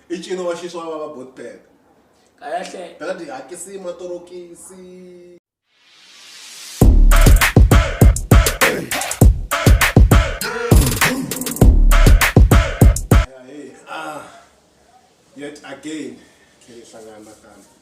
i ncino wa xiswa wa va botbek kahle bela tihakisi matorokisi ah, yet again khe hi hlangana nakambe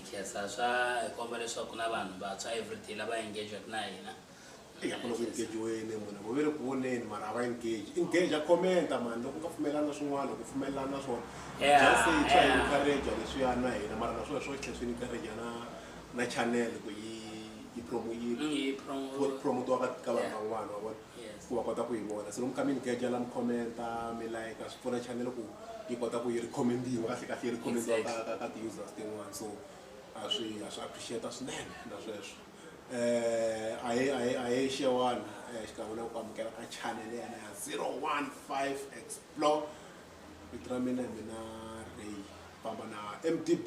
nkhensa swa hi komba leswaku na vanhu vantshwa everyday lava engagek na hina yakona ku engejiweni munhu vo ve ri ku voneni mara a va engage engage a commenta mani loko u nga pfumelelani na swin'wana ku pfumelelani na swona just say twa hi encourage leswiya na hina mara na swona swo tlhe swi encourage na na channel ku yi yi promote yi promote ka vanhu van'wana wa vona ku va kota ku yi vona se lomu ka mi ni geja la mi commenta mi like swi pfuna channel ku yi kota ku yi recommend-iwa kahle kahle yi recommend-iwa ka ka ka ti-users tin'wana so a swi a swi appreciate-a swinene na sweswo eh a hi a hi a hi xewani eh, xikan'we na ku amukela ka channel yana ya 015 explore vito ra mina hi mina ray famba na mdb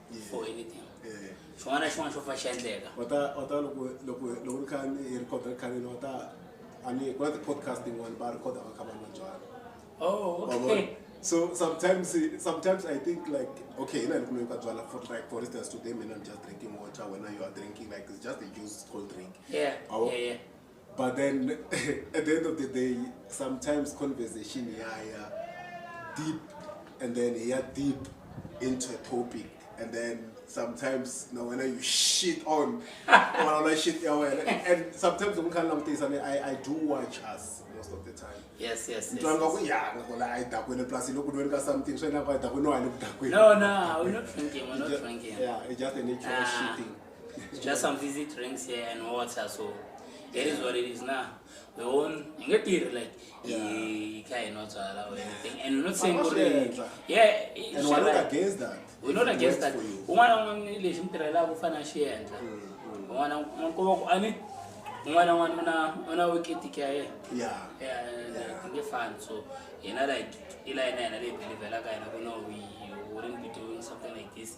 for anything xin'wana na xin'wana xo fa xi endleka va ta va ta loko loko loko ri kha ni hi record ri khaleni va ta a ni ku na ti-podcast yin'wana va record va kha va nwa byala oh okay so sometimes sometimes i think like okay hina ni kuloyi ka byala for like for instance today mina i'm just drinking water wena you are drinking like it's just a juice cold drink yeah, yeah, yeah. but then at the end of the day sometimes conversation yaya deep and then ya deep into a topic and then sometimes na wena you shit on wena shit ya wena and sometimes loko kha ni langutisa ni i i do watch us most of the time yes yes mntu wanga ku ya ngoko la i dakwini plus loko ni ka something swi nga ku i dakwini wa ni ku dakwini no no we're not drinking we're not drinking yeah it's just a natural ah. shitting just some fizzy drinks here and water so it is what it is now we won ingatiri like ikhaya inotswala or anything and we're not saying Vanoshedza. yeah it- and we're not like- against that we're not It against works that for you. un'wana un'wana lexi mi tirhelaka u fanele a xi endla un'wana un'wana ani un'wana un'wana u na u na wiketiki ya yena yeah Yeah, like, nge fani so yena like ila yena yena leyi belivelaka yena ku no we wouldn't be doing something like this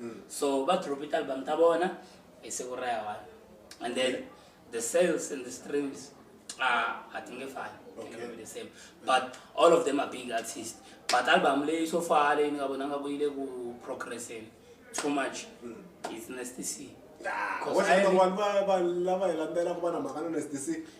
mm. so va drop ti-album ta vona hi siku ra ya one and then the sales and the streams ah, a ti nge fani okay. the same but all of them are big artist but album leyi so far leyi ni nga vona nga ku yi le ku progresseni too much mm. is nasty c ah, lava hi landzela ku va na mhaka na nasty c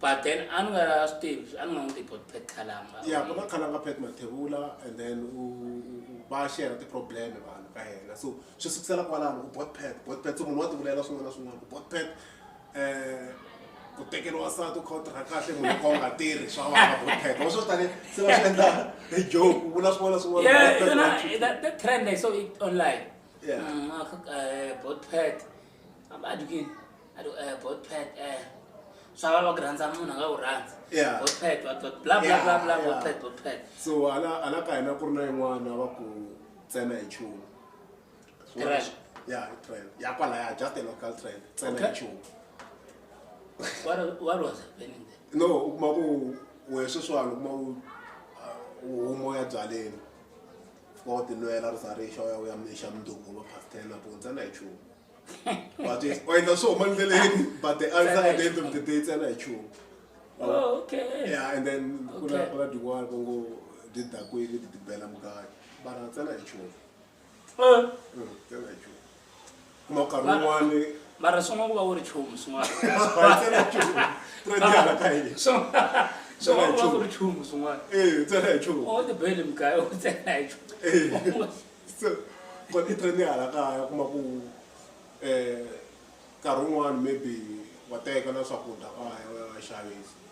but then a ni nga swi tivi a ni nga n'wi tivi bot pat khalanga ya ku na khalanga pat mathevula and then u va share ti-problem vanhu ka yena so swi sukusela kwalano ku bot pat bot pat so munhu wa tivulela swin'wana na swin'wana ku bot pat um ku tekeriwa sati u kha u tirha kahle munhu ka u nga tirhi swa vana bot pat wa swo tani se va swi endla hi joke u vula swin'wana na swin'wana trend i saw it online mm, uh, uh, bot pat so ala ka hina ku ri na yin'wana va ku tsena hi nchumu ya trail ya kwalaya just a local trail tsena hi nchumu no u kuma ku wehe sweswiwani u kuma ku uh, u humoya byaleni fika wa tinwela ri za ri xa u ya u ya mixa mundzuku va past ten nampundza na hi chumu but yes u endla swo huma ndleleni but the answer at the end of the day ntsena hi chumu Oh, okay. yeah and then ku na Okay. ku na tin'wana va ngo ti dakwini ti ti bela mukati bara ntsena hi chumu Eh, Mm, ntsena hi chumu mara swin'wana ku va wu ri chumu swin'wanaswin'wana ku va ku ri chumu swin'wanaotibele mugaya u tsena hi chumu kona i trend hala kaya kuma ku um nkarhi wun'wani maybe wa teka na swakudya kaya u ya va xavisa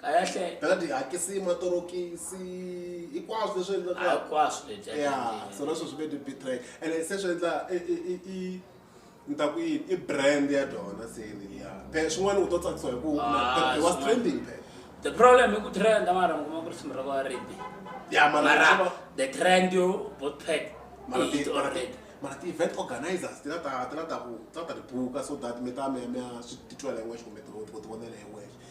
kahle dadi hakisi matorokisi hinkwaswo leswi endlaka hinkwaswo leswi ya so leswo swi ve ni betray and se swi endla i ni ta ku yini i brand ya dyona se ya phe swin'wana u to tsakisiwa hi ku ah, was trending phe the problem i ku trend mara mi kuma ku ri simu ra va redi ya mara the trend yo both pack mara ti mara ti mara ti event organizers ti la ta ti la ta ku ta ta ti buka so that mi ta mi mi swi titwela hi wexe kumbe ti ti vonela hi wexe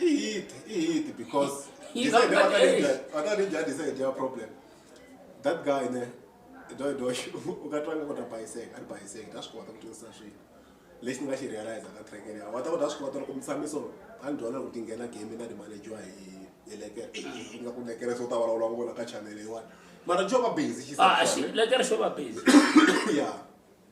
Eat, eat, because he said the other ninja, other ninja is a job problem. That guy there, do do ukatanga kuti paiseka ari paiseka tasvikota kuti usasvika lexi ni nga xi realize ka track leya wata ku ta swi kota loko mutshamiso a ni dyondza ku ti nghena game na timanejiwa hi hi lekere i nga ku lekere so ta vulavula ku vona ka chanele yiwani mara jo va busy xilekere xo va busy ya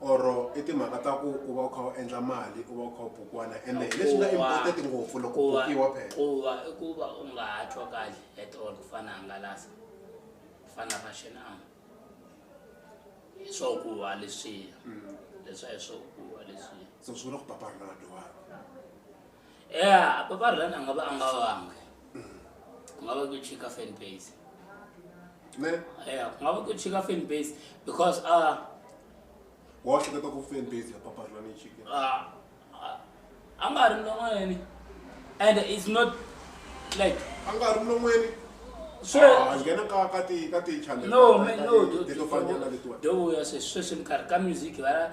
or i timhaka ta ku u va u kha u endla mali u va u kha u bukwana ende hi leswi nga important ngopfu loko u bukiwa phela ku va i ku va u nga ha twa kahle at all ku fana hangalasa ku fana fashion am hi swo ku wa leswiya mm. leswa hi swo ku wa leswiya so swi vula ku papa rinaldo wa Yeah, Papa Ryan anga vha anga vhange. Nga vha ku chika fan base. Ne? Yeah, nga vha ku chika fan base because uh wa chika to ku fan base ya Papa Ryan chika. Ah. Anga ri ndomweni. And it's not like anga ri ndomweni. So ah, ngena ka ka ti ka ti channel. No, man, no. Dito fanya na dito. Do ya se sweswi ni karhi ka music va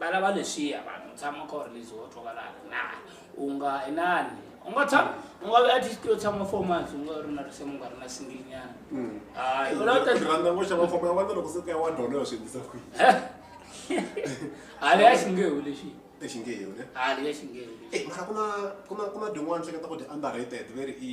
Va lava leswiya vanhu, tshama kha u ri lazy wo twa va la ri na u nga inani u nga tshama u nga ve at least u tshama four months u nga ri na risimu u nga ri na single nyana hayi u la ta Ndzi rhandza ngopfu xava famba ya wena loko se u ka ya wa dolo ya swi endlisa ku yini? hale ya xingehu lexi Exingehu ne? hale ya xingehu lexi Eh, mara ku na ku na ku na din'wana hleketa ku ti underrated ve ri i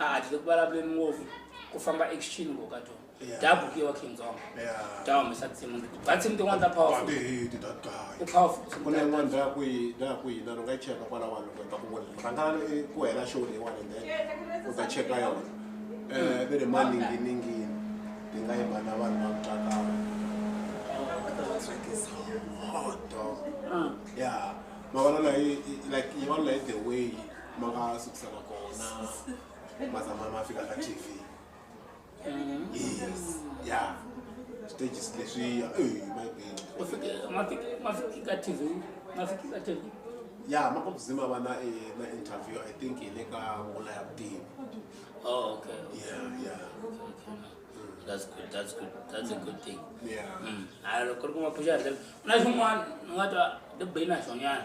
a a tile ku vulavuleni ngopfu ku famba exitshini ngo ka tona Yeah. dya buku yo wa king zonga Yeah. dya humesa tinsimu leti dya tinsimu tin'wana ta powerful Batihiti that guy. u powerful ku na yin'wana ndza ku yi ndza ku yina ni nga yi cheka kwala vanhu ku ta ku vona rhangana i- ku hela show leyiwani and then u ta cheka yona um ve ri maninginingini ti nga yima na vanhu va kutsakala ya mavona layi like yi vona layi the way ma nga sukisaka kona ma zama ma fika ka tv yes ya stages leswiya ey mayibini Ma fiki- ma fiki- ma fiki ka tv ma fiki ka tv ya ma ku zima va na eh, na interview i think hi le ka wona ya vutivi oh, okay ya ya that's good that's good that's a good thing ya Mm. hayi loko ri kuma phuxa ri na xin'wana ni nga twa ni be na xonyana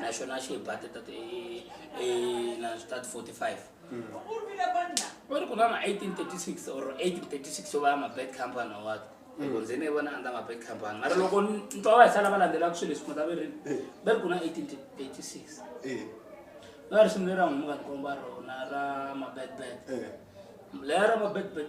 na xona xi hi bate tat na tat 45 u ri ku na ma 1836 or 1836 yo va ya ma-bad company or what loko ndzi ne vona a ndza ma-bad company mara loko ntwa wa hi sala va landzelaka swilo leswi mata verini va ri ku na 1836 va ri sungule ra n'wi muka ni komba rona ra ma-bad bad leya ra ma-bad bad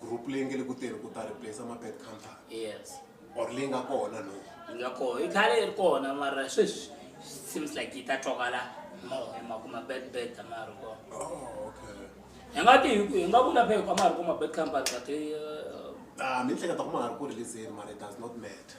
group leyi nge le ku tirhi ku ta replace mabed company yes or leyi nga kona no yi nga kona yi khale yi ri kona mara sweswi seems like yi ta twakala mo hi mhaka mabed bed a ma ha ri kona oh, okay hi nga ti hi nga vula phe a ma ha ri ku mabed company but eh, ah, mi hleketa ku ma ha ri ku releaseni mara it does not matter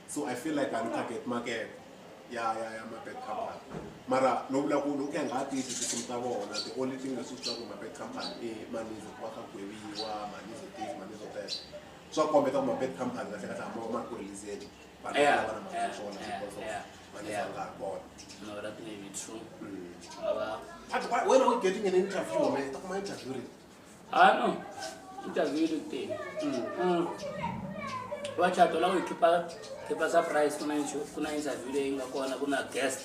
so i feel like i'm target market ya ya ya mapet company mara no vula ku ni ku ya nga ha tivi tisimu ta vona the only thing leswi swi ku mapet company i manizo ku va ka gweviwa manizo tivi manizo test swa kombeta ku mapet company kahle kahle hamba ma ku releaseni vanhu Yeah. lava na mali swona Yeah, because of yeah, manizo yeah. nga ha kona No, that may be true. Mm. Baba. But why- when are we getting an interview man ta kuma interview rini ah no interview yi ri tele Mm. vachato lava hi khipa khipa surprise ku na insho- ku na interview leyi nga kona ku na guest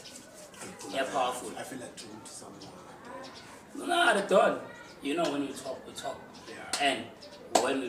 ya powerful I feel like talking to someone. No, no, at all. You know when you talk, we talk. Yeah. And when we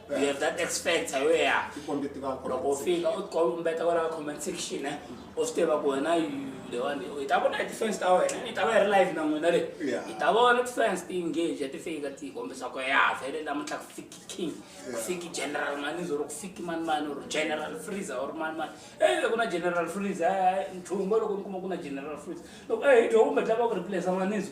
You have that X factor where tikombe ti va loko u fika u tikombeta kwala comment section eh u swi tiva ku wena lewani i ta vona hi ti-fans ta wena i ta va yi ri live na n'wina le i ta vona ti-fans ti engage ti fika ti kombisa ku ya vhele namuntlha ku fiki king ku fiki general manizo ri ku fiki mani mani or general freezer or mani mani e loko na general freezer nthungo loko ni kuma ku na general freezer loko e hi dyo kumbe tlava ku replace manizo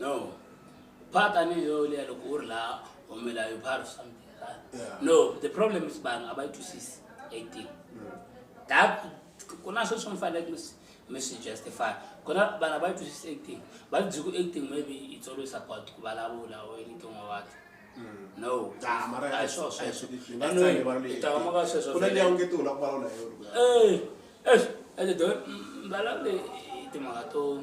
no phata ni yo leya loko u ri laha humela yo phara something no the problem is vanhu a va yi twisisi eighteen that ku na sweswi mi faneleke mi swi justify ku na vanhu a va yi twisisi eighteen va byi ku eighteen maybe yi tsolo yi support ku vulavula or anything or what no a swo sweswo anywayitawamaka sweswo eh eh ende do mbalawule timhaka to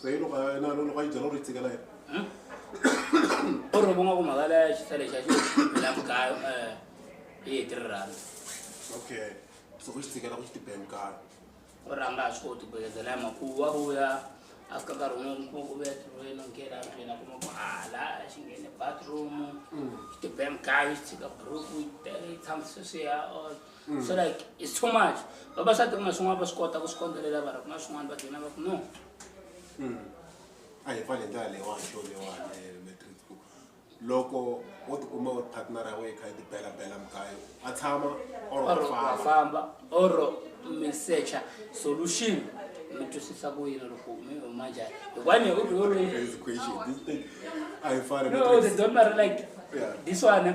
so yi loko a- na- loko a yi byela ku ri yi tshikela yena o ri ku nga ku mhaka leya xisa lexi a xi la mugayo um yi hi three rand okay so ku xi tshikela ku xi tibela mugayo o ri a nga ha swi koti ku bekezela ya makuwu wa vuya a fika nkarhi wun'we kuma ku vuya tirhweni o nghena ndlwini a kuma ku hala a xi nghene bathroom xi tibe mugayo xi tshika buruku yi te- yi tshama sweswiya or mm. so like it's too much vavasati ku na swin'wana va swi kota ku swi kondzelela vara ku na swin'wana va dlina va ku no mm. a hi fane ndlela leyiwani xo leyiwani eh, matrixku loko wo tikuma u partner ya wena yi kha yi tibela bela mukayo a tshama orfamba or misecha solution mi twisisa ku yini loko mi huma njhani hikwani hi ku biology a hi fane no they don't marry like this one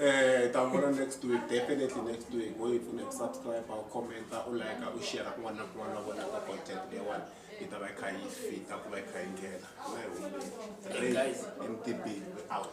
Eh, ta vona next week definitely next week wo yi pfuna hi ku subscribe u commenta u like u share kun'wana na kun'wana u vonaka content leyiwani yi ta va yi kha yi fita ku va yi kha yi nghena na hi humile Hey, guys. mtb out